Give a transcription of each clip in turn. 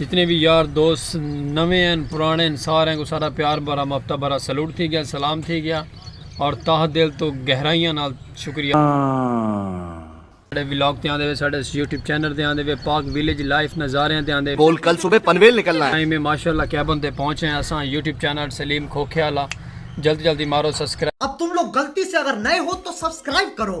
جتنے وی یار دوست نویں ہیں پرانے ہیں سارے کو سارا پیار بھرا مفتا بھرا سلوٹ تھی گیا سلام تھی گیا اور تاہ دل تو گہرائیاں نال شکریہ ساڑے ویلاگ تے آندے وے ساڑے یوٹیوب چینل تے آندے وے پاک ویلیج لائف نظاریاں تے آندے بول کل صبح پنویل نکلنا ہے میں ماشاءاللہ کیبن تے پہنچے ہیں اساں یوٹیوب چینل سلیم کھوکھے والا جلدی جلدی مارو سبسکرائب اب تم لوگ غلطی سے اگر نئے ہو تو سبسکرائب کرو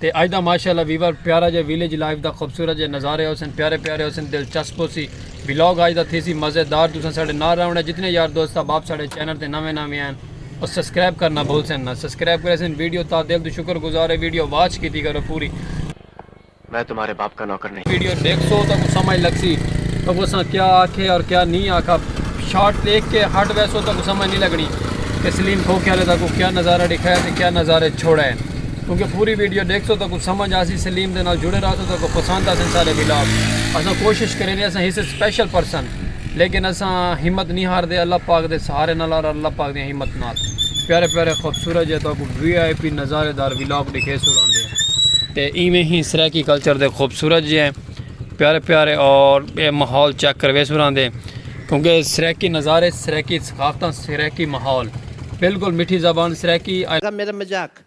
تے اج دا ماشاء اللہ ویور پیارا جیا ویلیج لائف دا خوبصورت جے نظارے ہوسن پیارے پیارے ہوسن دلچسپ ہوسی ولاگ اج دا تھیسی مزیدار تساں ساڈے نال رہونڑے جتنے یار دوست احباب ساڈے چینل تے نویں نویں ہن او سبسکرائب کرنا بھلسن نا سبسکرائب کریسن ویڈیو تا دل توں شکر گزار ہے ویڈیو واچ کیتی کرو پوری۔ میں تمہارے باپ کا نوکر نہیں۔ ویڈیو ڈیکھسو تاکوں سمجھ لگسی تاکوں اساں کیا آکھے اور کیا نی آکھا شارٹ دیکھ کے ہٹ ویسو تاکوں سمجھ نی لگنی کہ سلیم کھوکھے والے تاکوں کیا نظارہ ڈکھایا تے کیا نظارے چھوڑے۔ توں کہ پوری ویڈیو ڈیکھتو تاکوں سمجھ آسی سلیم دے نال جڑے رہتو تاکوں پسند آسن سارے ولاگ اساں کوشش کریندے اساں ہیس سپیشل پرسن لیکن اساں ہمت نی ہاردے اللہ پاک دے سہارے نال اور اللہ پاک دی ہمت نال پیارے پیارے خوبصورت جے تاکوں وی آئی پی نظارے دار ولاگ ڈیکھیسو راندے تے ایویں ہی سرائیکی کلچر دے خوبصورت جے پیارے پیارے اور اے ماحول چیک کرویسو راندے کیونکہ سرائیکی نظارے سرائیکی ثقافتاں سرائیکی ماحول بالکل مٹھی زبان سرائیکی میرا مزاق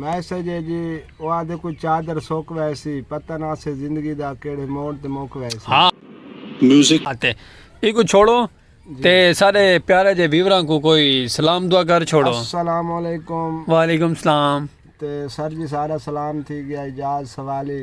میسج اے جی او آہدے کوئی چادر سک ویسی پتہ نہ سے زندگی دا کیڑھے موڑ تے مک ویسی۔ اتے ایکوں چھوڑو تے سارے پیارے جے ویوراں کوں کوئی سلام دعا کر چھوڑو۔ السلام علیکم۔ وعلیکم سلام۔ تے سر جی سارا سلام تھی گیا اعجاز سوالی۔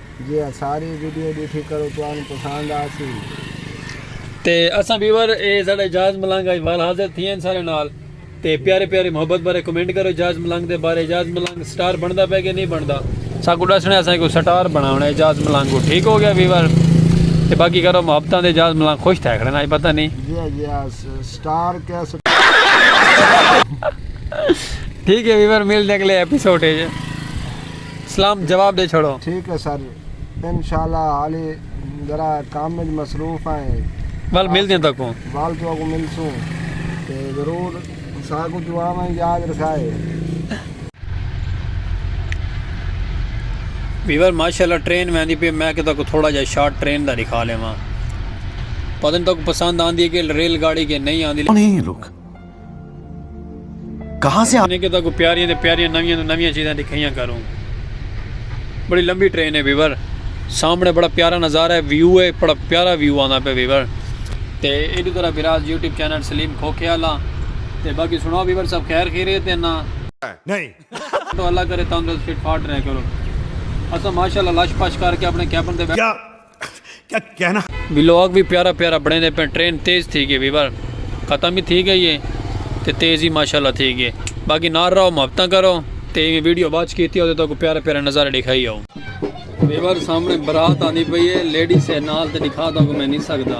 جے اے ساری ویڈیو ڈیٹھی کرو تہانوں پسند آسی۔ تے اساں ویور اے ساڈا اعجاز ملنگ اج وال حاضر تھیے ہن سارے نال تے پیارے پیارے محبت بھرے کمنٹ کرو اعجاز ملنگ دے بارے اعجاز ملنگ سٹار بندا پے کے نی بندا ساکوں ڈسنے اساں کو سٹار بناونا اے اعجاز ملنگ کو ٹھیک ہو گیا ویور تے باقی کرو محبتاں دے اعجاز ملنگ خوش تھے کھڑے نا اج پتہ نی سٹار کیا ٹھیک ہے ویور ملدے اگلے ایپیسوڈ اچ۔ سلام جواب ڈے چھوڑو۔ ٹھیک ہے سر انشاءاللہ حالی ذرا کم وچ مصروف ہیں۔ ول ملدیاں تکوں۔ ول تو اگوں ملسوں تے ضرور ساکوں دعاواں یاد رکھائے۔ ویور ماشاءاللہ ٹرین ویندی پی میں کہ تکو تھوڑا جا شارٹ ٹرین دا دکھا لیواں پتہ نہیں تکو پسند آندی ہے کہ ریل گاڑی کہ نہیں آندی۔ کہاں سے آنے کے تاکو پیاریاں دے پیاریاں نویاں دے نویاں چیزاں دکھائیاں کروں بڑی لمبی ٹرین ہے ویور سامنے بڑا پیارا نظارہ ہے ویو ہے بڑا پیارا ویو آنا پہ ویور تے ایڈو طرح براز یوٹیوب چینل سلیم کھوکھے آلا تے باقی سنو ویور سب خیر خیرے تے نا نہیں تو اللہ کرے تندرست فٹ فاٹ رہے کرو اسا ماشاءاللہ لش پش کر کے اپنے کیبن دے بیٹھ ولاگ وی پیارا پیارا بنڑیندے پئے ٹرین تیز تھی گئی ویور ختم ہی تھی گئی ہے تے تیز ہی ماشاءاللہ تھی گئی باقی نال رہو محبتاں کرو تے ایویں ویڈیو واچ کیتی ہو تے تاکو پیارا پیارا نظارے ڈیکھائی ہو ویور سامنے برات آندی پئی ہے لیڈیز ہے نال تے ڈیکھا تاکو میں نہیں سکدا۔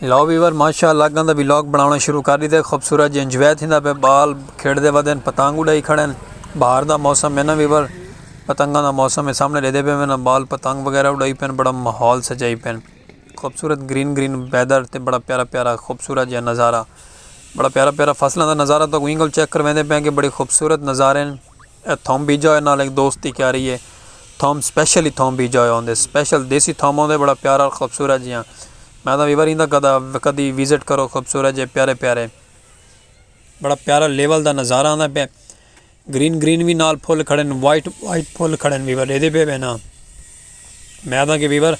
لو ویور ماشاء اللہ گندہ وی لاگ بناونا شروع کر ڈیتے خوبصورت جی انجوائے تھیندا پہ بال کھیڈ دے ودن پتنگ اڈائی کھڑن بہار دا موسم ہے نا ویور پتنگاں دا موسم ہے سامنے ڈیدے پہ میں نا بال پتنگ وغیرہ اڈائی پہ بڑا ماحول سجائی پہ خوبصورت گرین گرین ویدر تے بڑا پیارا پیارا خوبصورت جی نظارہ بڑا پیارا پیارا فصلہ دا نظارہ تو کوئی گل چیک کر ویندے پہ کہ بڑی خوبصورت نظارہ ہیں اے تھوم بیجا ہوئے نال ایک دوست دی کیاری ہے تھوم سپیشل ہی تھوم بیجا ہوئے ہوندے سپیشل دیسی تھوم ہوندے بڑا پیارا اور خوبصورت جیاں میں تاں ویور ہیندا گدا کدی وزٹ کرو خوبصورت جے پیارے پیارے بڑا پیارا لیول دا نظارہ آندا پہ گرین گرین وی نال پھول کھڑے وائٹ وائٹ پھول کھڑے ویور ایدے پہ بینا۔ میں آدھاں کہ ویور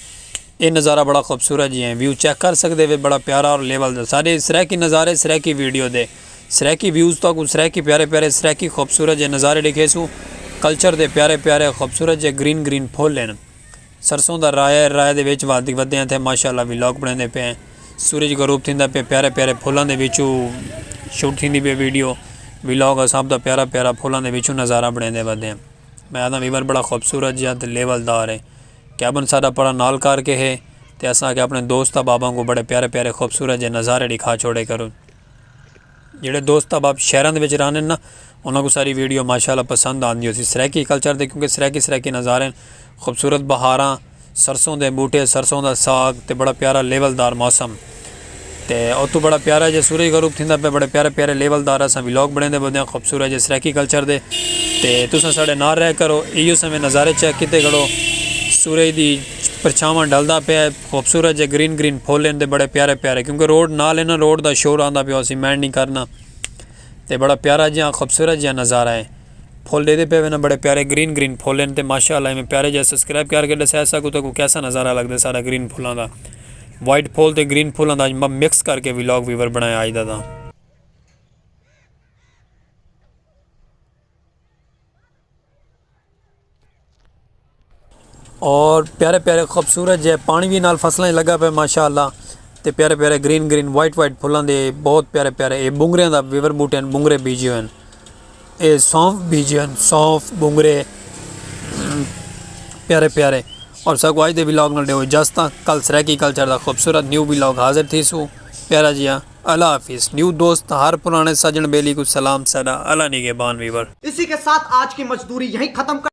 اے نظارہ بڑا خوبصورت جی ہیں ویو چیک کر سکدے وے بڑا پیارا اور لیول دا سارے سرائیکی نظارے سرائیکی ویڈیو دے سرائیکی ویوز تاں کو سرائیکی پیارے پیارے سرائیکی خوبصورت جے نظارے ڈکھے سوں کلچر دے پیارے پیارے خوبصورت جے گرین گرین پھول ہیں سرسوں دا رائے ہے رائے دے ویچ وادی ودے ہیں تھے ماشاءاللہ وی لاک بڑھیں دے پہ ہیں سورج گروپ تھیں دا پہ پیارے پیارے پھولان دے ویچو شوٹ تھیں دی پہ ویڈیو وی لاک اساب دا پیارا پیارا پھولان دے ویچو نظارہ بڑھیں دے ودے ہیں میں آکھاں ویور بڑا خوبصورت جیہا تے لیول دار ہے کیبن ساڈا پڑا نال کر کے ہے تے اساں آکھیا اپنے دوست احباباں کوں بڑے پیارے پیارے خوبصورت جیہے نظارے ݙکھا چھوڑے کرو جیہڑے دوست احباب شہراں دے وچ رہندے نا انہاں کوں ساری ویڈیو ماشاء اللہ پسند آندی ہوسی سرائیکی کلچر تے کیونکہ سرائیکی سرائیکی نظارے خوبصورت بہاراں سرسوں دے بوٹے، سرسوں دا ساگ تے بڑا پیارا لیول دار موسم تے اتو بڑا پیارا جا سورج غروب تھیندا پیا بڑے پیارے پیارے لیول دار اساں ولاگ بنڑیندے بودیاں خوبصورت جے سرائیکی کلچر دے تے تساں ساڈے نال رہ کرو ایو سویں نظارے چیک کیتے کرو سورج دی پرچھاواں ڈھلدا پیا ہے خوبصورت جے گرین گرین پھل ہن تے بڑے پیارے پیارے کیونکہ روڈ نال ہے نا روڈ دا شور آندا پیا ہوسی مائنڈ نی کرنا تے بڑا پیارا جیہاں خوبصورت جیہاں نظارہ ہے۔ پھل ڈیدے پئے وینا بڑے پیارے گرین گرین پھل ہن تے ماشاء اللہ ایویں پیارے جئے سبسکرائب کیار کے ڈسائے اسا کو تکو کیسا نظارہ لگ دے سارا گرین پھلاں دا وائٹ پھول تے گرین پھلاں دا اج مکس کر کے ویلاگ ویور بنایا اج دا تاں اور پیارے پیارے خوبصورت جے پانی بھی نال فصلیں لگا پہ ماشاءاللہ تے پیارے پیارے گرین گرین وائٹ وائٹ پھلاں دے بہت پیارے پیارے اے بونگریاں دا ویور بوٹے ہیں بونگرے بیجے ہوئے ہیں اے سونف بیجے ہوئے ہیں سونف بونگرے پیارے پیارے اور ساکو آج دے ویلاگ نال دے ہوئے جاستا کل سریکی کلچر دا خوبصورت نیو ویلاگ حاضر تھی سو پیارا جی ہاں اللہ حافظ نیو دوست ہر پرانے سجن بیلی کو سلام سدا اللہ نگے بان ویور اسی کے ساتھ آج کی مزدوری یہیں ختم کر